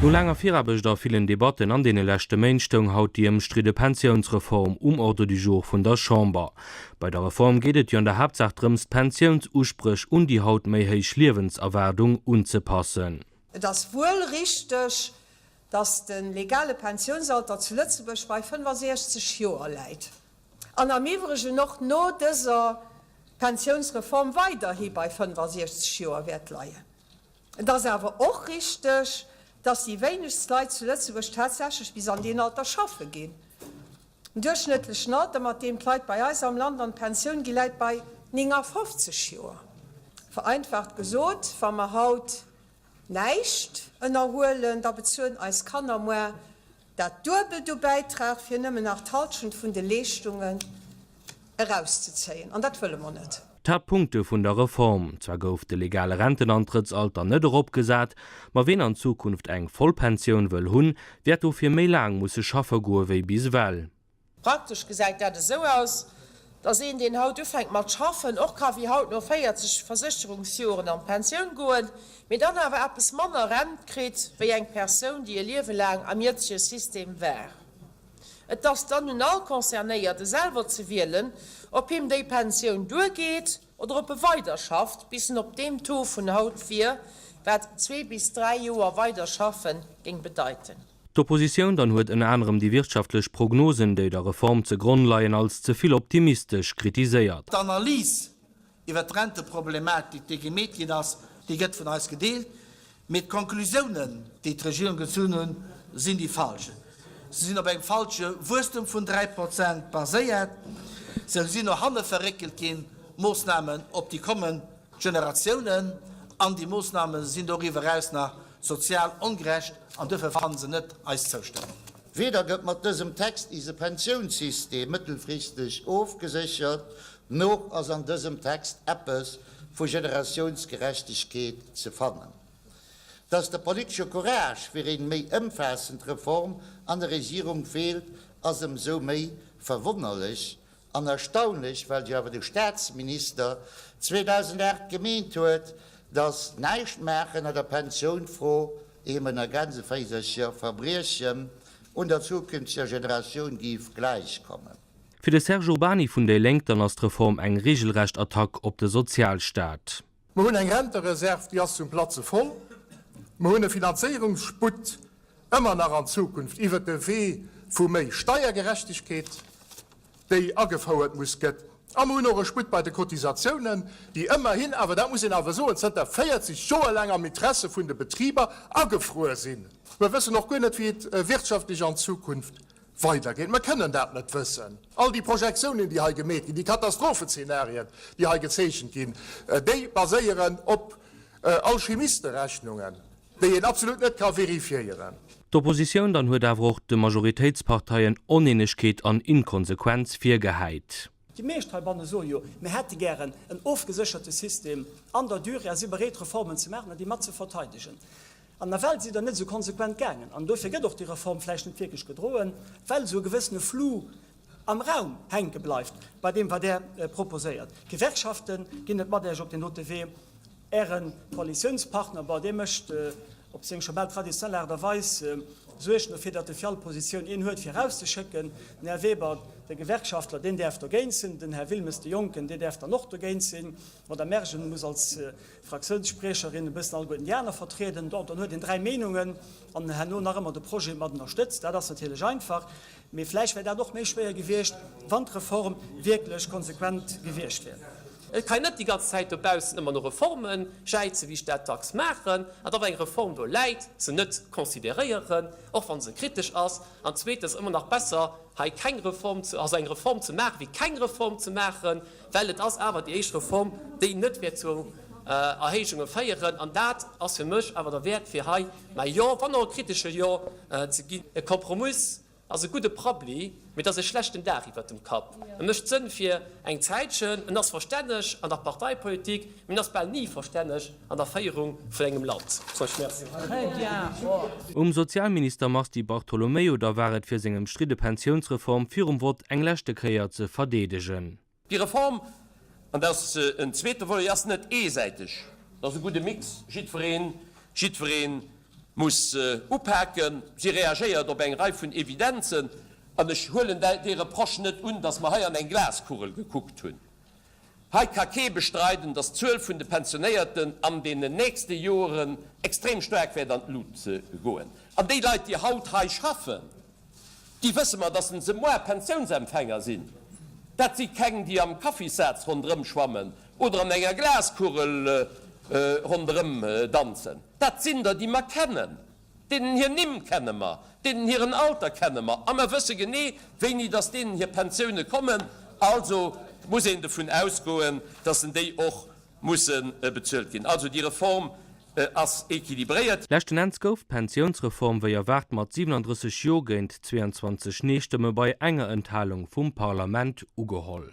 No laanger Viraarbecht a villen Debatten an deene leschte Méint stoung haut déi ëmstridde Pensiounsreform um Ordre du jour vun der Chamber. Bei der Reform geet et jo an der Haaptsaach drëms, d'Pensiounsuspréch un déi haut méi héich Liewenserwaardung unzepassen. Et ass wuel richteg, dass de legale Pensiounsalter zu Lëtzebuerg bei 65 Joer läit an am iwwregen och no dëser Pensiounsreform weiderhi bei 65 Joer wäert leien. Et ass awer och richteg, dass déi wéinegst Leit zu Lëtzebuerg tatsächlech bis an deen Alter schaffe ginn. Den duerchschnëttlechen Alter, mat deem d'Leit bei eis am Land an d'Pensioun ginn, läit bei 59 Joer. Vereinfacht gesot, wa mer haut. Näischt ënnerhuelen, da bezuelen eis Kanner muar dat duebelt u Bäitrag fir nëmmen nach d'Halschent vun de Leeschtungen erauszezéien. An dat wëlle mer net. D'Haapt Punkte vun der Reform, Zwar gouf de legale Rentenantrëttsalter net erop gesat, ma ween an Zukunft eng Vollpensioun wëll hunn, wäert dofir méi laang musse schaffe goe wéi bis ewell. Praktesch gesäit dat esou aus, dass een, deen haut ufänkt mat schaffen, och ka wéi haut no 40 Versécherungsjoren an d'Pensioun goen, mee dann awer eppes manner Rent kritt wéi eng Persoun, déi e Liewe laang am jëtzege System war. Et ass dann un all Concernéierte selwer ze wielen, ob him déi Pensioun duergeet oder ob e weiderschafft, bis en op deem Taux vun haut wier, wat zwee bis dräi Joer weider schaffe géing bedeiten. D'Oppositioun dann huet ënner anerem déi wirtschaftlech Prognosen, déi der Reform ze Gronn leien, als ze vill optimistesch kritiséiert. D'Analys iwwert d'Renteproblematik, déi gemeet ginn ass, déi gëtt vun eis gedeelt, mee d'Conclusiounen, déi d'Regierung gezunn hunn, sinn déi falsch. Se sinn op engem falsche Wuesstum vun 3 Prozent baséiert. Se sinn no hanne verréckelt ginn, d'Moossnamen op déi kommend Generatiounen, an déi Moossname sinn doriwwer eraus nach Sozial ongerecht an duerfir fannen se net eis Zoustëmmung. Weder gëtt mat dësem Text ise Pensiounssystem mëttelfristeg ofgeséchert, noch ass an dësem Text eppes vu Generatiounsgerechtegkeet ze fannen. Dass de politesche Courage fir eng méi ëmfaassend Reform an der Regierung feelt, ass ëmsou méi verwonnerlech, An erstaunlech, well jo awer de Staatsminister 2008 gemeent huet, datt näischt maachen a der Pensiounfro, ehe man an Grenzen versetzt, jo Verbriechen un der zukünftiger Generatioun géif gläichkommen. Fir de Serge Urbany vun déi Lénk dann ass d'Reform eng reegelrecht Attack op de Sozialstaat. Mer hunn eng Rentereserv, déi ass zum Platze voll. Mer hunn e Finanzéierungssputt ëmmer nach an Zukunft iwwert de Wee vu méi Steiergerechtegkeet, déi agefouert muss gëtt. A mer hunn och e Sputt bei de Cotisatiounen, déi ëmmerhin awer, dat muss een awer soen, zënter 40 Joer laang am Interesse vun de Betriber agefruer sinn. Mer wëssen och guer net, wéi et wirtschaftlech an Zukunft weidergeet. Mer kënnen dat net wëssen. All déi Projektiounen, déi hei gemeet ginn, déi Katastrophezeenarien, déi hei gezeechent ginn, déi baséieren op Alchimisterechnungen, déi een absolut net ka vérifiéieren. D'Oppositioun dann huet awer och de Majoritéitsparteien Oneenegkeet an Inkonsequenz virgehäit. Déi meescht heibanne soe jo, mir hätte gären en ofgesécherte System an der Durée a si bereet, Reformen ze maachen an déi mat ze verteidegen. An nawell sidd Der net esou konsequent gaangen. An dofir gëtt och déi Reform vläicht net wierklech gedroen, well esou e gewëssene Flou am Raum hänke bleift bei deem, wat Der proposéiert. D'Gewerkschafte ginn net mat Iech op deen dote Wee. Ären Koalitiounspartner, bon, dee mécht op seng scho bal traditionell Aart a Weis Suergen dofir, datt e fir all Positioun een huet, fir erauszeschécken. Den Här Weber, de Gewerkschaftler, deen däerf dogéint sinn. Den Här Wilmes, de Jonken, dee däerf dann och dogéint sinn. D'Madame Mergen muss als Fraktiounsspriecherin e bëssen alleguerten déi aner vertrieden. Bon, dann huet een dräi Meenungen an herno nach ëmmer de Projet mat ënnerstëtzt. Dat ass natierlech einfach. Mee vläicht wär dat och méi schwéier gewiescht, wann d'Reform wierklech konsequent gewiescht wier. Et ka een net déi ganz Zäit dobaussen ëmmer no Reforme jäizen, wéi ech dat dacks maachen, an da wa eng Reform do läit, se net consideréieren, och wa se kritesch ass. An zweetens, ëmmer nach besser hei keng Reform, also eng Reform ze maachen, wéi keng Reform ze maachen. Well et ass awer déi éischt Reform, déi net wäert zu Erhéijunge féieren, an dat ass fir mech awer der Wäert, fir hei mäi Jo, wann och e kritesche Jo, ze ginn. E Kompromiss ass e gudde Prabbli, mee et ass e schlechten Daach iwwert dem Kapp. E mécht Sënn fir eng Zäitchen, en ass verstänneg an der Parteipolitik, Mir ass bal ni verstänneg an der Féierung vun engem Land. Um Sozialminister Mars Di Bartolomeo da war et fir seng ëmstridde Pensiounsreform virum Vott eng leschte Kéier ze verdeedegen. Déi Reform, an dat ass en zweete Volet, ass net eesäiteg. Dat ass e gudde Mix. Jiddwereen, jiddweree muss upaken. Si reagéiert op eng Rei vun Evidenzen. An ech huelen dee Reproche net un, datt mer hei an eng Glaskugel gekuckt hunn. Hei ka kee bestreiden, dass d'Zuel vun de Pensionéierten an deenen nächste Joeren extrem staark wäert an d'Lut goen. An déi Leit, déi haut hei schaffen, déi wësse mer, dass se moar Pensiounsempfänger sinn. Dat si keng, déi am Kaffissaz ronderëm schwammen oder an enger Glaskugel ronderëm danzen. Dat sinn der, déi mer kennen. Deenen hir Nimm kenne mer, deenen hiren Alter kenne mer a mer wësse genee, wéini datt deenen hir Pensioune kommen. Also muss een dovun ausgoen, datt en déi och musse bezuelt ginn. Also déi Reform ass équilibréiert. Leschten Enns gouf d'Pensiounsreform wéi erwaart mat 37 Jo géint 22 Nee-Stëmme bei enger Enthalung vum Parlament ugeholl.